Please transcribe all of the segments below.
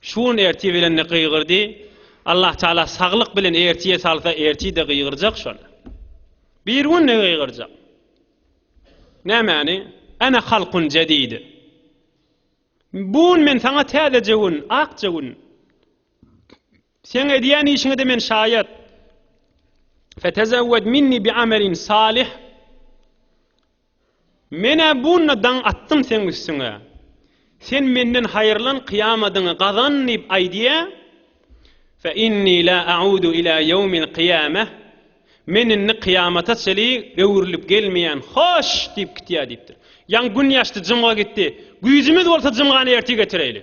Şu gün ertir bilenli gygyrdy, Allah Taala saglyk bilen ertire salsa ertide gygyrjak şony. Bir günde gygyrjak. Nämäni? Ana halkun jadidi. Bu gün men saňa täzeje gün, akja gün. Sen edýän işiňe de men şaýat. Fetezawwad minni bi amalin salih. Men-ä bunda daň atdym seň üstüňe. Sen menden haýyrlan kyýamadyňy gazan diýip aýdýa. Fe inni la a'udu ila ýewmil kyýameh. Men indi kyýamata çeli öwrülip gelmeýän, hoş! diýip gitýä diýipdir. Ýaňy gün ýaşdy, jymga gitdi. Güýjümiz bolsa jymgany ertir getireýli.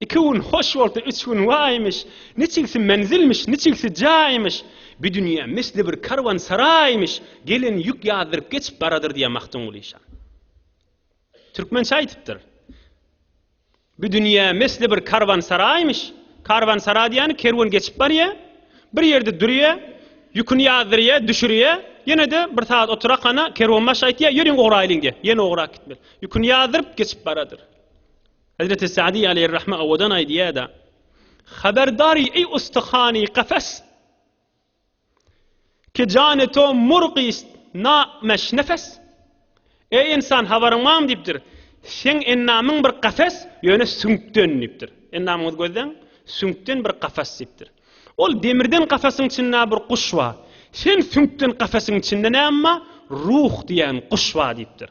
Iki gün hoş bolsa, üç gün waýmyş, Niçigsi menzilmiş, niçigsi jaýmyş, Bi dünýä misli bir karwansaraýmyş, Gelen ýük ýazdyryp geçip baradyr diýýär Magtymguly şa. Türkmençe aýdypdyr. Bi dünýä misli bir karwansaraýmyş, Karwansara diýýäni kerwen geçip barýar, bir ýerde durýar, ýüküni ýazdyrýar, düşürýär, ýene-de bir sagat oturakana kerwenbaşy aýtýar, Ýörüň ugraýlyň diýýär, ýene ugrap gitmeli. Ýüküni ýazdyryp geçip baradyr. Hezreti Sa'dy aleýhir-rahme owadan aýdýar-da, Haberdar eý ustahany kafes! Ki jany to murgist na meş nefes! Eý ynsan, habaryň barmy? diýipdir. Seň endamyň bir kafes, ýöne süňkden diýipdir. Endamyňyzy gözläň, süňkden bir kafes diýipdir. Ol demirden kafesiň içinde bir guş bar. Sen süňkden kafesiň içinde näme bar? Ruh diýen guş bar diýipdir.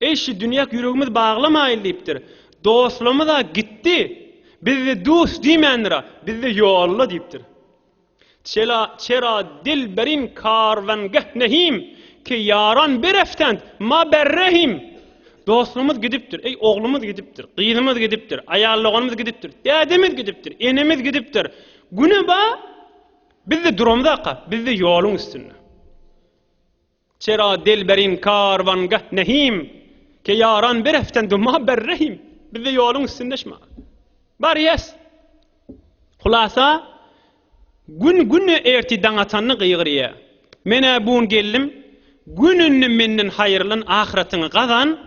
Eý, şu dünýäk ýüregimiz baglamaýyn diýipdir. Dostlarymyz-a gitdi, bizde dust diýmändir-a, bizde ýolla diýipdir. Çela, çera, dilberin, karwangeh nehim, ke ýaran bereftent, ma berrehim. Dostlarymyz gidipdir, eý, oglumyz gidipdir, gyzymyz gidipdir, aýalloganymyz gidipdir, dädemiz gidipdir, enemiz gidipdir. Güne ba, bizde duramyzaka, bizde ýoluň üstünde. Çera delberin karwan gah nehim, Ke ýaran bir eften duma ber rehim, Biz-de ýoluň üstünde şma barýas. Hulasa, Gün güne erti daň atanda gygyrýa. Men-ä bun geldim, Gün indi menden haýyrlan ahyratyňy gazan,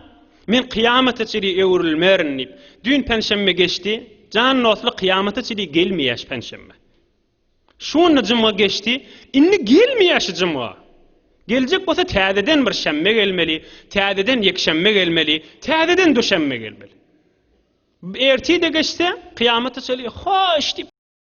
men kyýamata çydy öwrülmerin diýip. Düýn penşenbe geçdi, jan dostlar kyýamata çydy gelmeýäş penşenbe. Şonda jumga geçdi, indi gelmeýär şu jumga. Geljek bolsa täzeden bir şenbe gelmeli, täzeden ýekşenbe gelmeli, täzeden duşenbe gelmeli. Ertir-de geçse, kyýamata çenli hoş diýip.